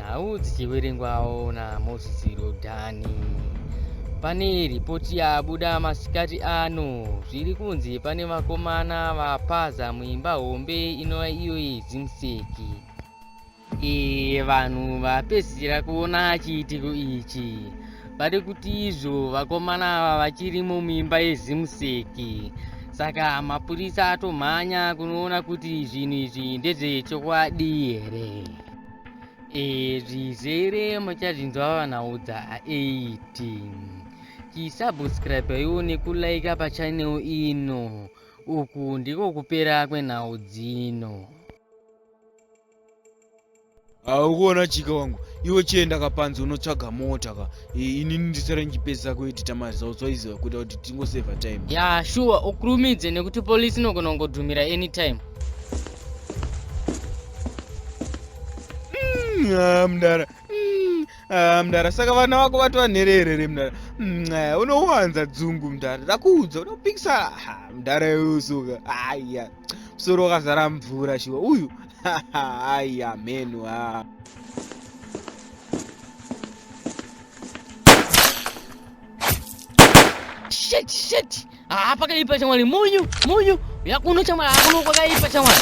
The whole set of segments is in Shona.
nhau dzichiverengwawo naMoses Rodhani. Pane ripoti yabuda masikati ano, zviri kunzi pane vakomana vapaza muimba hombe inova iyo yedzimseki. E, vanhu vapedzisira kuona chiitiko ichi vari kuti izvo vakomana ava vachiri mumimba yezimseki saka mapurisa atomhanya kunoona kuti zvinhu izvi ndezvechokwadi here Eh, zvizere muchazvinzwa vanaudza 18 chisubscribe iwo nekulaika pachanel ino uku ndiko kupera kwenhau dzino haukuona chika wangu iwe chienda kapanzi unotsvaga mota ka Eh, ini ndisare ndichipedzisa kuedita mazawo zvaiziva kuita kuti tingoseva time ya shuwa ukurumidze nekuti polisi inogona kungodhumira anytime mm, ah, mdara mm, ah, mdara saka vana vako vatova nhererere mdara mm, ah, unowanza dzungu mdara ndakuudza unopikisa mdara yeusuka aya musoro wakazara mvura shuwa uyu aya mhenu haa Shit, shit. Ah, pakaipa chamwari munyu munyu yakuno chamwari akuno kwakaipa chamwari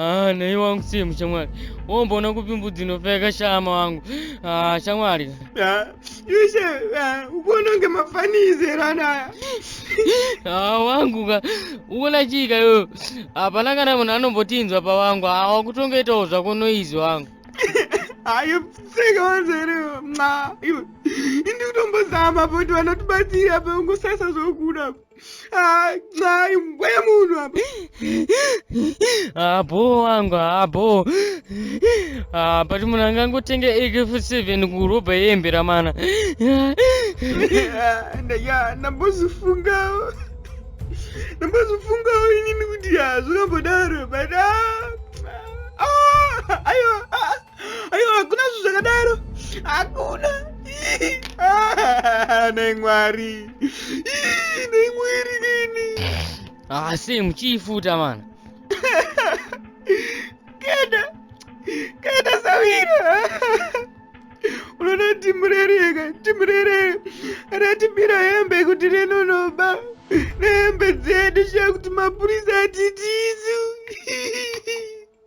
Ah, nei wangu simu shamwari womboona kupi mbudzi inopfeka shama wangu ah, shamwari ah, yushe ah, ukuona kunge mafanizerana ah, wangu ka ukuona chii ka iyoyo hapana kana munhu anombotinzwa pawangu ah, wakutongoitawo zvako noizi wangu hayo pfeka wanzere mwa iwe indikutombozama poti vanotibatsira pa ungosasa zvokuda Nxai mbuya munhu apa. Abo wangu abo. Ah, but munhu angangotenge AK47 kurobha yembe ramana. Ndaya ndambozifungawo. Ndambozifungawo inini kuti hazvakambodaro but ah. Ah, ayo. Ah. aiwa hakuna zvinhu zvakadaro hakuna ah, nei mwari nei mwiri nini asi ah, muchiifuta mana keda keda sawira unoda timurereka timurerere ratibira hembe kuti renonoba nehembe dzedu shaa kuti mapurisa atitisu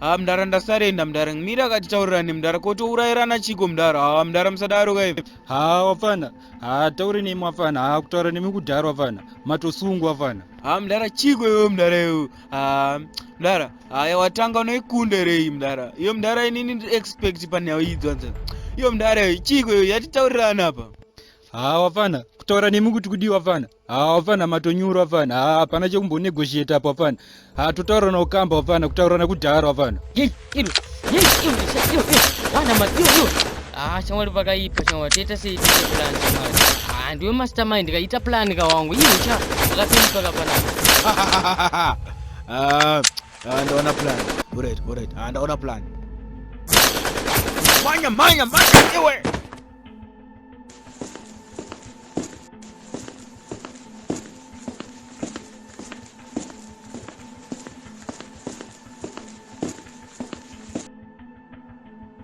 haa mdara ndasarei ndamdara mira akatitaurirane mdara kotourairana chiko mdara haa mdara musadaro kai haa wafana haa taure nemi wafana haa kutaura nemi kudhara wafana matosungwa wafana haa mdara chiko iwe mdara iwe haa mdara haya watanga unoikunda rei mdara iyo mdara inini expect panyaya idzonza iyo mdara chiko iyo yatitaurirana apa haa wafana kutaura nemi kuti kudii wafana haa wafana matonyura wafana haa hapana chekumbonegotiate apo wafana haa totaurana ukamba wafana kutaurana kudhara wafana shamwari pakaipa shamwari toita sei tiite plan shamwari haa ndiwe mastermind kaita plan kawangu iwe cha wakapinduka kapanapa ndaona plan alright alright ndaona plan manya manya manya iwe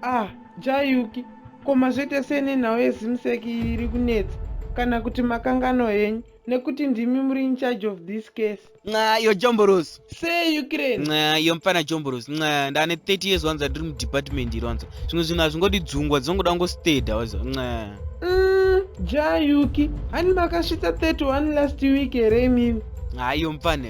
ah jayuki ko mazvete sei nenhau yezimseki iyi iri kunetsa kana kuti makangano henyu nekuti ndimi muri incharge of this case nxa iyo jomborosi sei ukraine nxa iyo mfana jomborosi nxa ndane 30 years wanza ndiri mudepartment iri wanza zvimwe zvinhu hazvingodi dzungwa dzinongoda kungosteda waza nxa mm, ja yuki hani makasvitsa 31 last week here imimi nxa iyo mfana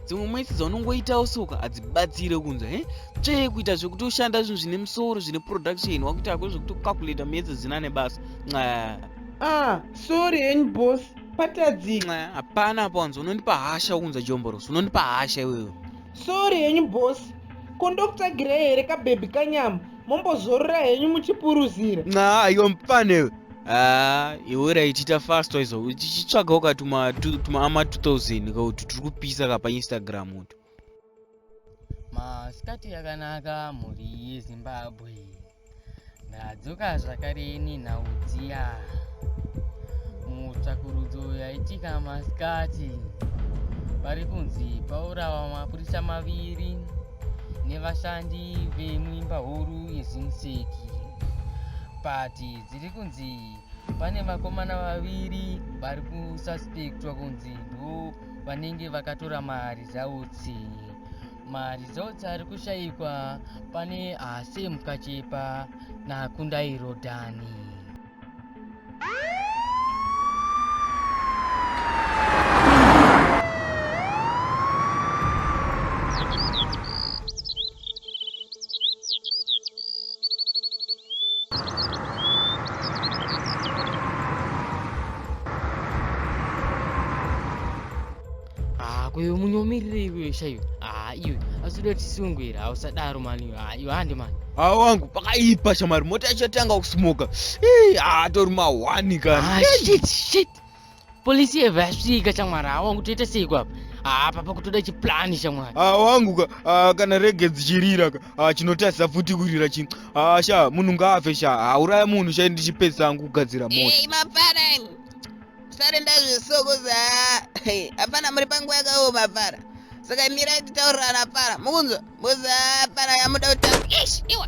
dzimwe mwedzi dzaunongoitawo soka hadzibatsire kunza he tsvee kuita zvekuti ushanda zvinhu zvine musoro zvine production wakuita hako zvekuti ucalculata miyedzi dzina nebasa nxa ah sorry henyu boss patadzi hapana apa wanzi unondipa hasha ukunza jomborosi unondipa hasha iwewe sori henyu bosi ko ndokutsvagirai here kabhebhi kanyama mombozorora henyu muchipuruzira nxa iwe mfanewe haa ah, iwe raitiita fastwa izo tichitsvagawo ka tuma ama 2000 kauti tiri kupisa ka painstagram utu masikati yakanaka mhuri yezimbabwe Ndadzoka zvakare ini nhau dziya. Mutsvakurudzo yaitika masikati vari kunzi paurawa mapurisa maviri nevashandi vemuimba huru yezimuseki pati dziri kunzi pane vakomana vaviri vari kususpectwa kunzi ndo vanenge vakatora mari dzautsi maresults ari kushaikwa pane asi mukachipa nakundairo dhani Ah, kwewe munyomirire iwe shaiwe. Ah, iwe azoda tisungu here? Hausadaro mani iwe. Ah, iwe hande mani. Ah, wangu pakaipa shamari mota yachatanga kusmoka. Hey, ah, tori ma one kana. Ah, shit, shit. Police yeva yasvika shamwari. Ah, wangu toita sei kwa apa? Ah, papa kutoda chiplan shamwari. Ah, wangu ka, ah, kana rege dzichirira ka. Ah, chinotarisa futi kurira chi. Ah, sha, munhu ngaafe sha. Ah, uraya munhu sha ndichipesa angu kugadzira mota. Hey, mapara. Sare ndazviso kuzi hapana muri panguva yakaoma para saka mirai titaurirana para mukunzwa kuzi hapana yamuda kutaura ish iwa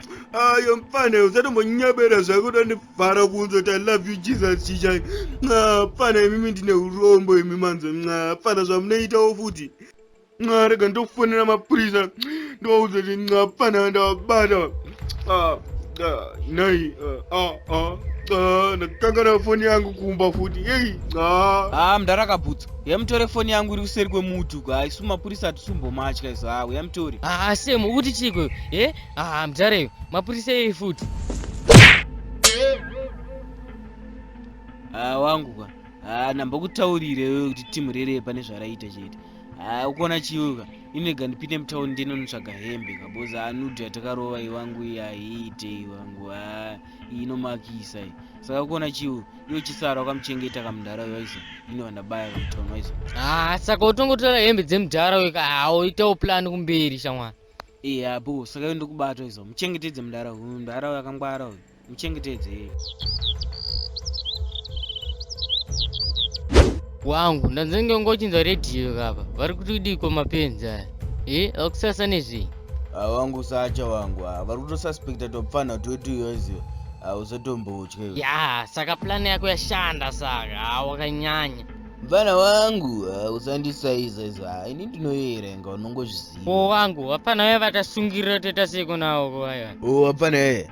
ayo mfana usatombonyebera zvako tandivhara kunze kuti i love you jesus chichai mfana imimi ndine urombo imi manze mfana zvamunoitawo futi rega ndofonera mapurisa ndovaudza kuti mfana ndavabata nhai ndakangana foni yangu kumba futi ei haa mdara kabhutsa yamutore foni yangu iri kuseri kwemuti uko haisu mapurisa hatisumbomatya izo haa uyamutore haa semu ukuti chiiko e Ah, mjareyo mapurisa yei futi ah, wangu kwa ah, nambokutaurirewe kuti timu rereye pane zvaraita chete ah, ukuona chiuka inega ndipinde mutauni ndinonotsvaga hembe kaboza anudhi yatakarova iwangu iyi haiite iwangu ah, inomakisa i saka ukuona chiu iyo chisara wakamuchengeta kamudhara waizo inova ndabaya kamutauni waizo ah, saka utongotora hembe dzemudhara weka hauitawo ah, plani kumberi shamwari Iye abu saka ende kubato izo muchengetedze mudara uyu mudara uyu akangwara uyu muchengetedze iye. Wangu ndanzenge ngochinza radio kapa vari kuti kudiko mapenzi aya. Eh akusasa nezvei? Ah, wangu sacha wangu ah, vari kutosuspecta topfana twetu iyoziyo ah, usatomboutye. Ya saka plan yako yashanda saka ah, wakanyanya. mfana wangu uh, usandisaiza izvo ah, ini ndinoyeerenga unongozviziva o wangu hapana vaya vatasungirira toita seiko nawo kovaya o hapana yaya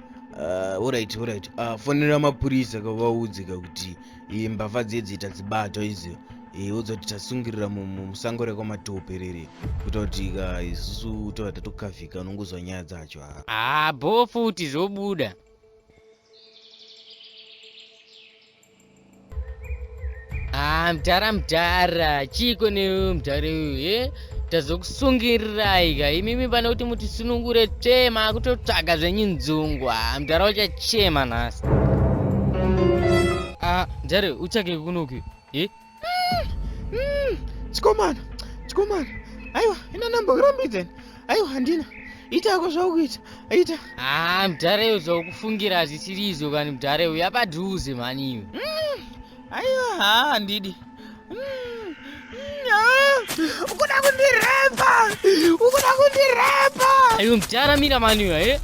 uh, orit orit uh, ah, fonera mapurisa kavaudze ka kuti eh, mbavha dzedzi tadzibatwa izio eh, odzoti tasungirira musango rekwamatope rere kuita kuti ka isusu tova tatokavhika unongozwa nyaya dzacho haa ah, bho futi zvobuda Ah, mdhara mdhara chiiko newe mdhara uyu he eh? tazokusungirirai ka imimi pane kuti mutisunungure tsvee maakutotsvaga zvenyu nzungu ah, mdhara uchachema nhasi ah, mdhara utsvage kunoki e eh? chikomana chikomana aiwa ina namba urambidzeni aiwa handina ita yako zvaukuita ita haa ah, mudhareyo zvaukufungira zvichiri izvo kani mudhareyo yapadhuze mhani iwe mm, aiwa haa handidi mm, mm, ah. ukuda kundirepa ukuda kundirepa aiwa mudhara mira mani iwe eh?